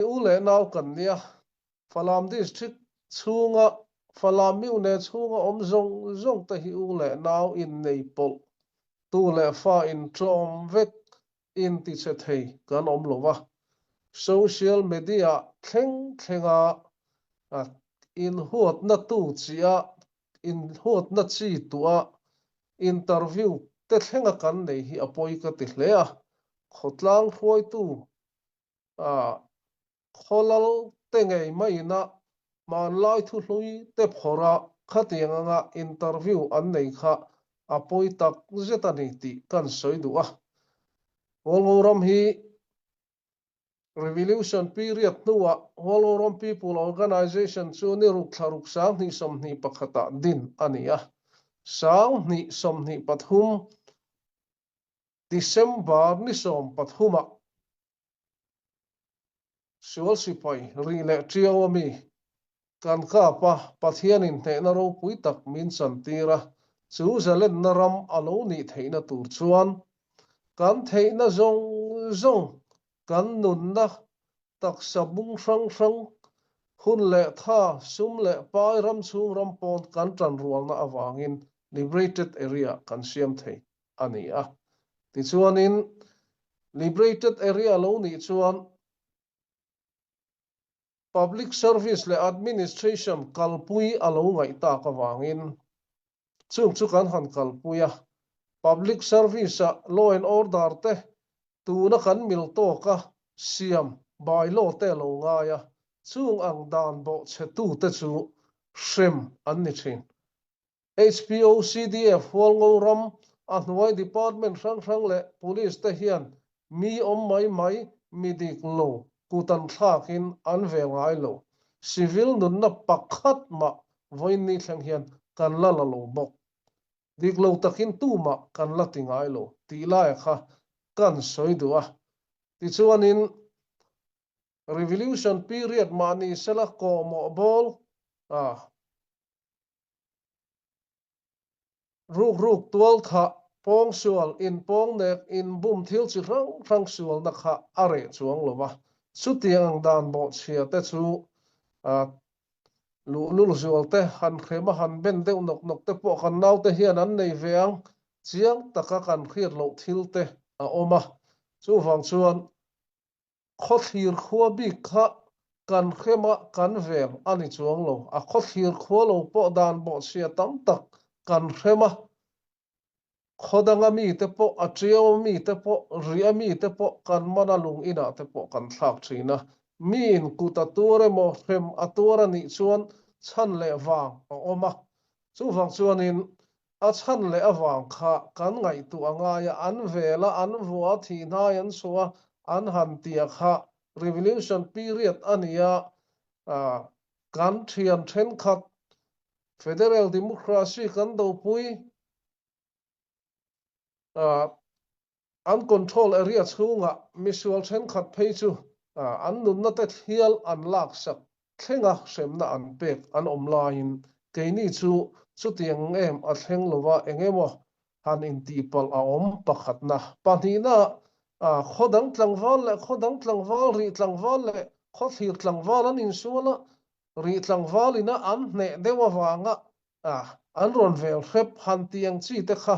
He u leh nau kan nia Falam district chhunga Falam miune chhunga awm zawng zawng te hi u leh nau in nei pawlh, tu leh fa inṭawm vek intichhe thei kan awm lo va. Social media thleng thlenga inhuatna tu chi-a inhuatna chi tua interview te thlenga kan nei hi a pawi ka ti hle a. Khawtlang hruaitu khaw lalte ngei maina hmanlai thu hluite phawra khatiang anga interview an nei kha a pawi tak zet a ni tih kan sawi duh a. Walgo ram hi revolution period hnua Walgo ram people organization chu ni ruk thla ruk sang hnih sawmhnih pakhatah din a ni a. Sang hnih sawmhnih pathum December ni sawmpathumah sual sipai ri leh ṭiau ami kan kapa Pathianin hnehna ropui tak min chantîr a, chu zalenna ram a lo nih theihna tûr chuan kan theihna zawng zawng, kan nunna taksa bung hrang hrang, hun leh tha, sum leh pai ram chhung ram pawn kan tanrualna avangin liberated area kan siam thei a ni a. Tichuanin liberated area lo nih chuan public service leh administration kalpui a lo ngaih tak avangin chung chu kan han kalpui a public service-a law and order te tuna kan mil tawka siam bylaw te lo ngai a chung ang dan bawhchhetute chu hrem an ni thin HBO CDF Hualngo ram a hnuai department hrang hrang leh police te hian Mi awm mai mai, mi diknu, kutanthlakin an ve ngai lo. Civil nunna pakhat mah vawiinni thleng hian kan la la lo bawk. Dik lo takin tumah kan la ti ngai lo tih laia kha kan sawi duh a. Tichuanin, revolution period mah ni sela kawhmawh bawl, ah, Rukruk tualthah pawngsual in pawngnek in bum thil chi hrang hrang sualna kha a reh chuang lo a. Chutiang ang dan bawhchhiate chu luhlul zualte han hrema han ben deuh nawk nawk te pawh kan naute hian an nei ve ang chiang taka kan hriat loh thil te a awm a. Chuvang chuan khawthlir khua bik kha kan hrema kan veng a ni chuang lo. A khawthlir khua lo pawh dan bawhchhia tam tak kan hrem a. Khaw danga mite pawh, a ṭiau mite pawh, ria mite pawh kan mana lung inah te pawh kan thlak ṭhin a. Miin kut a tuar emaw hrem a tuar a nih chuan chhan leh vang a awm a. Chuvang chuanin A chhan leh avang kha kan ngaihtuah a ngai a, an vel a, an vua a thihnain an suh a, an han tia kha revolution period a ni a, kan thian thenkhat federal democracy kan dopui an control area chhungah misual thenkhat phei chu an nunna-te hial an laksak thlenga hremna an pek an awm laiin keini chu chutiang em a thleng lova engemaw han intihpalh a awm pakhatna pahnihna khaw dang tlangval leh khaw dang tlangval ri tlangval leh khaw thlir tlangval an insuala ri tlangvalina an hneh deuh avanga ah an rawn vel hrep han tih ang chi te kha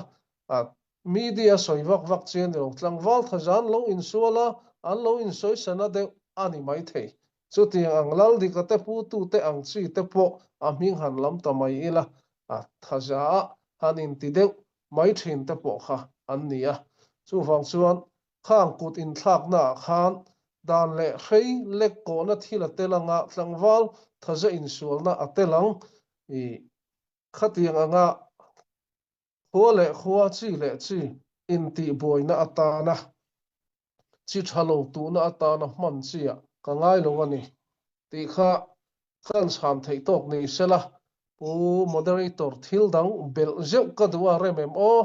ah media sawi vak vak chian ni lo tlangval tha zan lo insual a an lo insawisana deuh a ni mai thei chutiang ang lal dika te putu te ang chi te pawh a hming han lam ta mai ila a thaza han inti deuh mai thin te pawh kha an ni a chuvang chuan khang kut inthlaknaah khan dan leh hrei lekkawhna thil a tel ang a, tlangval thaze insualna a tel ang. Khatiang anga khua leh khua, chi leh chi intihbuaina atana chi tha lo tuhna atana hman chi-ah ka ngai lo a ni tih kha khan chham theih tawk ni sela Pu Moderator thil dang belh zeuh ka duh a rem em aw.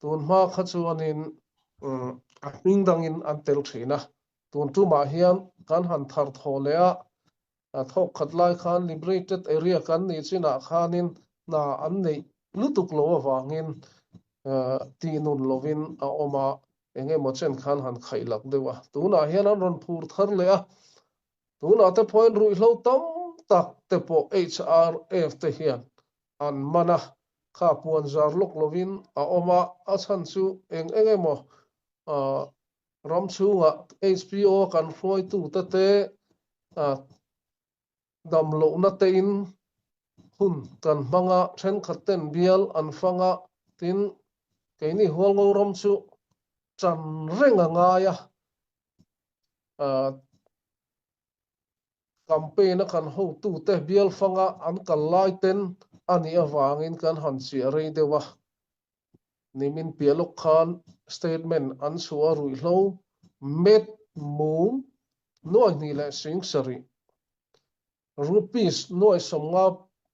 tun hma kha chuanin a hming dangin an tel thin a tun tumah hian kan han thar thaw leh a thawkkhat lai khan liberated area kan nih chinah khanin hna an neih lutuk lo avangin tihnun lovin a awm a engemaw chen khan han khaihlak deuh a tunah hian an rawn phur thar leh a tunah te pawhin ruihhlo tam tak te pawh HRF te hian an man a kha puanzar lawk lovin a awm a, a chhan chu eng eng emaw uh, ram chhunga HBO kan hruaitute te uh, damlohna tein hun kan hmanga thenkhatten bial an fanga tin keini hualngo ram chu tan reng a ngai a uh, Campaign-a kan hotute bialfanga an kal laiten a nih avangin kan han chiah rei deuh a. Nimin piah lawk khan statement an chhuah a ruihhlo met mum nuai hnih leh sing sarih. Rupees nuai sawmnga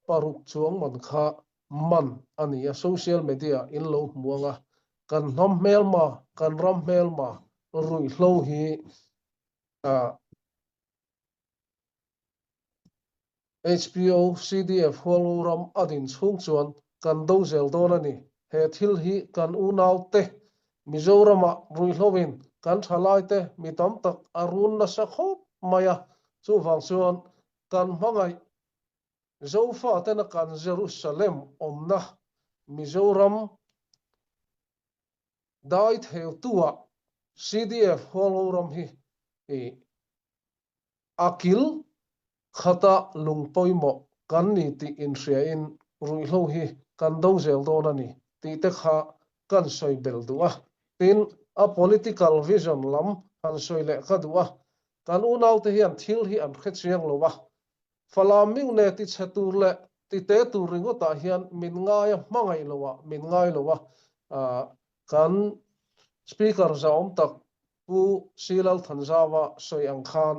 paruk chuang man kha man a ni a social media in lo hmuang a. Kan hnam hmelma, kan ram hmelma ruihhlo hi Uh, HPO CDF hualuram adin chung chuan kan do zel dawn ani. He thil hi kan unaute Mizorama ruihloin kan thalaite mi tam tak arun nasa khop maya. Chuvang chuan kan mangai Zofa tena kan Jerusalem omna Mizoram dai theu tua CDF holoram hi i akil khata lungpoimo kan ni ti in hriain ruihlo hi kan dong zel dawn ani ti te kha kan soi bel du a tin a political vision lam han soi leh ka du a kan unau te hian thil hi an hre chiang lo a Falaming ne ti chhe tur leh ti te tur ringawtah hian min ngai a hmangaih loa min ngai loa kan speaker zaawm tak Pu Silal Thanzawa sawi ang khan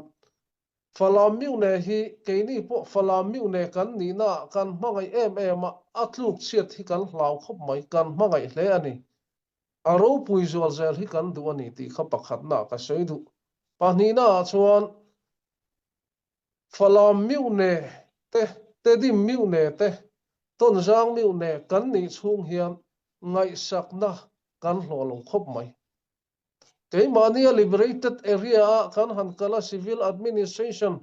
Falaming ne hi keini pawh Falaming ne kan nihna kan hmangaih em em a a tluk chiat hi kan hlau khawp mai kan hmangaih hle a ni. A ropui zual zel hi kan duh a ni tih kha pakhatna ka sawi duh. Pahnihnaah chuan Falam miu ne te, Tedim miu ne te, Tonzang miu ne kan nih chhung hian ngaihsakna kan hlawh lo khawp mai. Keimahnia liberated area-ah kan han kala civil administration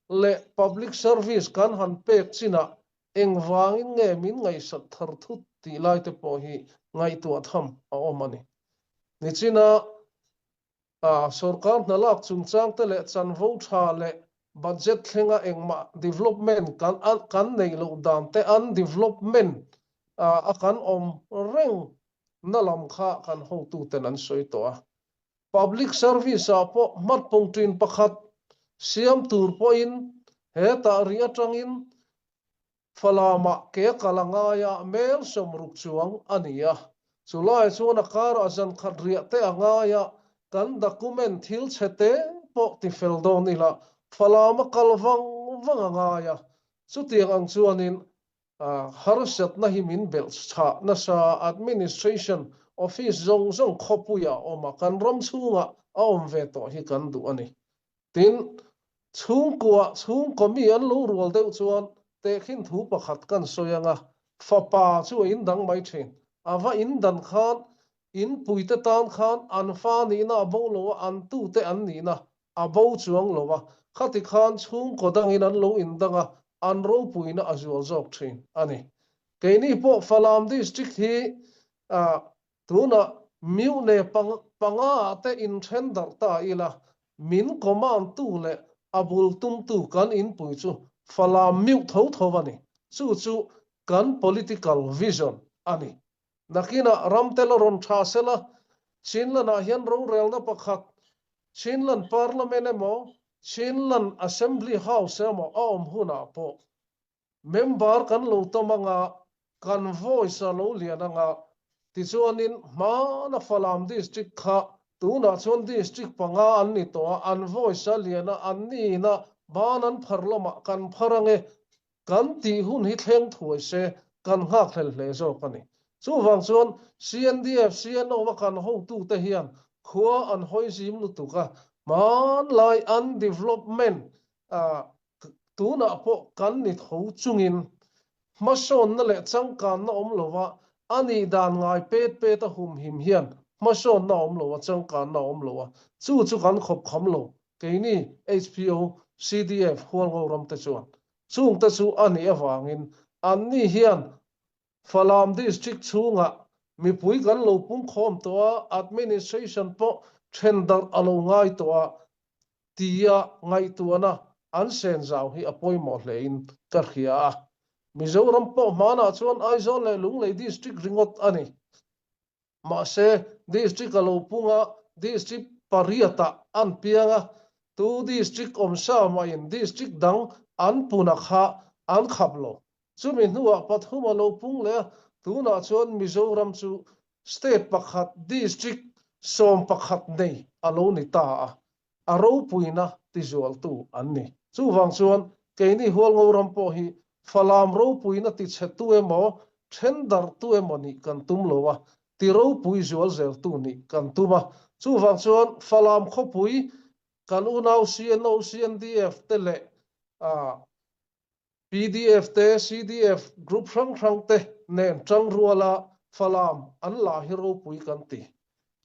leh public service kan han pek chinah engvangin nge min ngaihsak thar thut tih lai te pawh hi ngaihtuah tham a awm a ni. Nichina sorkar hna lak chungchangte leh chanvo tha leh budget thlenga engmah development kan kan neih loh dan te undevelopment a kan awm reng na lam kha kan hotuten an sawi tawh a public service ah pawh hmatpung tin pakhat siam tur pawhin he tah ri atangin Falamah ke kala ngaia mel samruk chuang a ni a. Chulai chuan a kara zan khat riah te a ngaia kan document thil chhe te pawh ti fel dawn ila falama kal vang vang a ngaia chutiang ang chuanin uh, harsatna hi min belh tha nasa administration office zawng zawng khawpuia awma kan ram chhunga a awm ve tawh hi kan duh a ni. Tin, chhungkua chhungkaw mi an lo rual deuh chuan tehkhin thu pakhat kan sawi anga fapa chu a indang mai thin a va indan khan in puite tan khan an fa nihna a bo lo a an tute an nihna a bo chuang lo a khati khan chhungkaw dangin an lo indang a an ropuina a zual zawk thin a ni keini pawh Falam district hi uh, tunah miune panga-te inṭhen darh ta ila min command-tu leh a bul tumtu kan inpui chu falam miu tho tho a ni. Chu chu kan political vision a ni. Nakinah ramtel rawn ṭha sela, Chinland-ah hian rorelna pakhat, Chinland parliament emaw, Chinland assembly house emaw a awm hunah pawh member kan lo tam anga kan voice a lo lian anga tichuanin hmana Falam district kha tunah chuan district panga an ni tawh a an voice a lian a an nina ban an phar lamah kan phar ange kan tih hun hi thleng thuai se kan nghakhlel hle zawk a ni chuvang chuan CNDF CNO kan hotute hian khua an hawizim lutuka hmanlai an development uh, tunah pawh kan ni tho chungin hmasawnna leh changkanna awm lova a nih dan ngai pet peta humhim hian hmasawnna awm lo a changkanna awm lo a chu chu kan khawpkham lo keini HPO CDF hualngo ram te chuan chung te chu a nih avangin anni hian Falam district chhungah mipui kan lo pungkhawm tawh a, administration pawh then darh a lo ngai tawh a, tia ngaihtuahna an sen zau hi a pawimawh hlein ka hria a. Mizoram pawh hmanah chuan Aizawl leh Lunglei district ringawt a ni. mahse district a lo pung a district pariat ah an piang a tu district awm sa mahin district dang an puna kha an khap lo chumi hnuah pathum a lo pung leh a tunah chuan mizoram chu state pakhat district sawm pakhat nei a lo ni ta a a ropuina tizualtu an ni. Chuvang chuan keini hualngo ram pawh hi falam ropuina tichhe tu emaw thendar tu emaw nih kan tum lo a, ti ropui zual zeltu nih kan tum a. Chuvang chuan falam khawpui kan unau CNO CNDF te leh uh, PDF te CDF group hrang hrang te nen tangruala Falam an la hi ropui kan ti.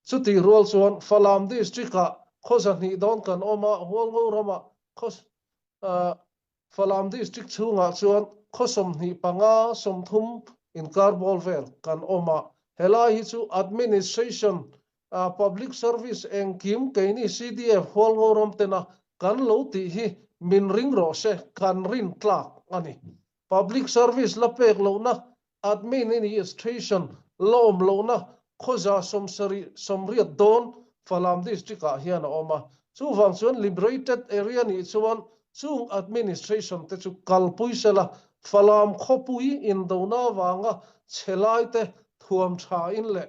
Chuti rual chuan Falam district-a khaw zahnih dawn kan awma Hualngo rama khaw uh, Falam district chhungah chuan khaw sawmhnih panga sawmthum inkar ball vel kan awma helai hi chu administration uh, public service engkim keini CDF hualngo ram tena kan lo tih hi min ring ro se kan rin tlak ani public service la pek lona admin administration lawm lona khoza somsari somriat don falam district ah hian a awm a chu wang chuan liberated area ni chuan chung administration te chu kalpui sela falam khawpui in dona wanga chelai te thuam tha in leh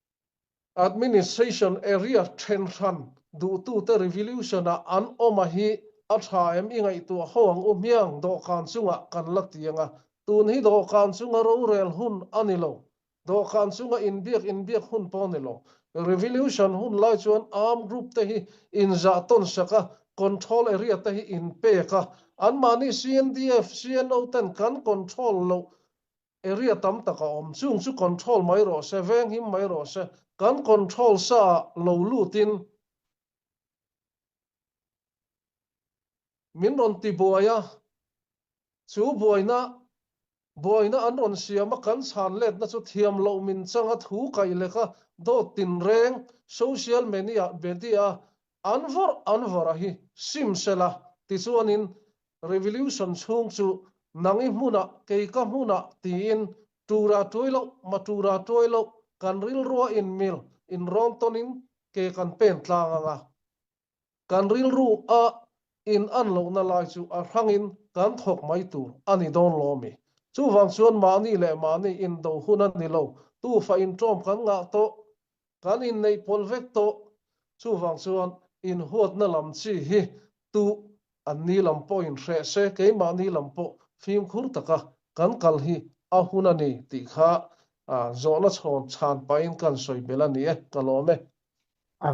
Administration area then hran duhtute revolution-a an awma hi a tha em i ngaihtuah ho ang u hmiang dawhkan chunga kan la tiang a tun hi dawhkan chunga rorel hun a ni lo dawhkan chunga inbiak inbiak hun pawh ni lo revolution hun lai chuan arm group te hi inzah tawn sak a control area te hi inpek a anmahni CNDF CNO ten kan control loh area tam tak a awm chung chu control mai rawh se veng him mai rawh se kan control sa lo lutin min rawn tibuai a chu buaina buaina an rawn siam a kan chhan letna chu thiam loh min chang a thu kai lek a dawt tin reng social media media an vawrh an vawrh a hi sim sela tichuanin revolution chhung chu nang i hmunah kei ka hmunah tiin tura tuai lo ma tura tuai lo kan rilrua inmil inrawn tonin ke kan pen tlang anga kan rilru a in an lohna lai chu a hrangin kan thawk mai tur a ni dawn lawmi chuvang chuan mahni leh mahni indo hun a ni lo tufa in ṭawm kan ngah tawh kan innei pawlh vek tawh chuvang chuan inhuatna lam chi hi tu an ni lam pawhin hreh se keimahni lam pawh fimkhur taka kan kal hi a hun a ni tih kha zawhna chhawn chhan pain kan sawi belh a ni e ka lawm e